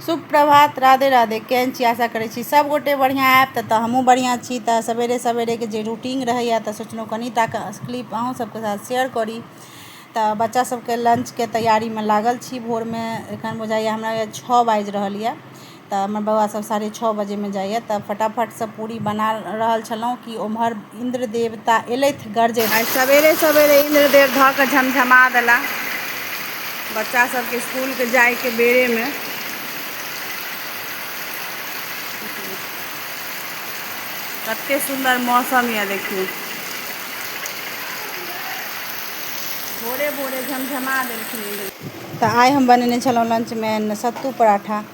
शुभ प्रभात राधे राधे केहन छी आशा करै छी सब गोटे बढ़िया आएब त त हमहु बढ़िया छी त सवेरे सवेरे के जे रूटीन रहैया त सोचलहुँ कनी टा के क्लिप अहूँ सबके साथ शेयर करी त बच्चा सबके लंच के तैयारी में लागल छी भोर में एखन बुझाइया हमरा या छः बाजि रहल या त हमर बौआ सब साढ़े छः बजे में जाइया त फटाफट से पूरी बना रहल छलहुँ कि ओम्हर इन्द्र देवता एलथि गरजैत। आइ सबेरे सबेरे इन्द्र देव धऽ कऽ झमझमा देलाह बच्चा सबके स्कूल के जाय के बेरे मे। कते सुन्दर मौसम यऽ देखियौ। भोरे भोरे झमझमा देलखिन इन्द्र देव। तऽ आइ हम बनेने छलहुँ लंच मे सत्तू पराठा।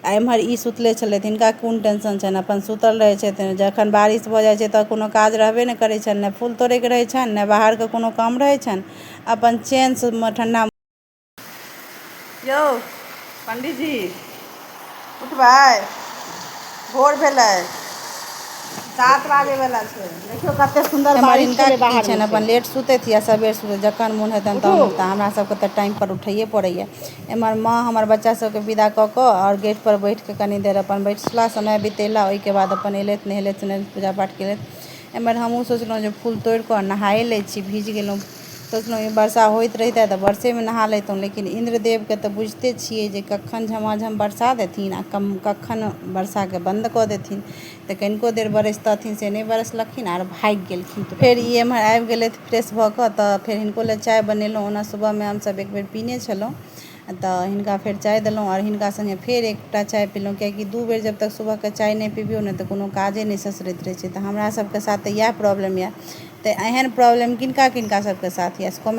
आ एम्हर ई सुतले छलथि हिनका कोन टेंशन छनि अपन सुतल रहै छथि जखन बारिश भऽ जाइ छै तऽ कोनो काज रहबे नहि करै छनि ने फूल तोड़ैके रहै छनि ने बाहरके कोनो काम रहै छनि अपन चेन से ठंडा यौ पंडीजी उठबै भोर भेलै सात बाजे वाला छै देखियौ कते सुन्दर एम्हर बारिश हिनका छलै की बाहर छनि मे अपन लेट सुतथि या सबेर सुतथि जखन मोन हेतनि तहन उठता हमरा सबके तऽ टाइम पर उठैये पड़ैया एमहर माँ हमर बच्चा सभकेँ विदा कऽ कऽ आओर गेट पर बैठ कऽ कनि देर अपन बैसला समय बितेला ओहिके बाद अपन एलथि नहेलथि सुनेलथि पूजा पाठ केलथि एमहर हमहुँ सोचलहुँ जे फूल तोड़ि कऽ नहाये लै छी भीज गेलहुँ सोचलहुँ ई वर्षा होइत रहितै तऽ वर्षेमे नहा लैतहुँ लेकिन इन्द्र देवके तऽ बुझिते छियै जे कखन झमाझम वर्षा देथिन आ कखन वर्षाके बन्द कऽ देथिन तऽ कनिको देर बरसितथिन से नहि बरसलखिन आर भागि गेलखिन तऽ फेर ई एम्हर आबि गेलथि फ्रेश भऽ कऽ तऽ फेर हिनको लए चाय बनेलहुँ ओना सुबहमे हमसभ एक बेर पीने छलहुँ तऽ हिनका फेर चाय देलहुँ आओर हिनका सङ्गे फेर एकटा चाय पीलहुँ कियाकि दू बेर जब तक सुबहके चाय नहि पीबियौ ने तऽ कोनो काजे नहि ससरैत रहै छै तऽ हमरासभके साथ तऽ इएह प्रॉब्लम यए तऽ एहन प्रॉब्लम किनका किनका सभके साथ यए से कमेंट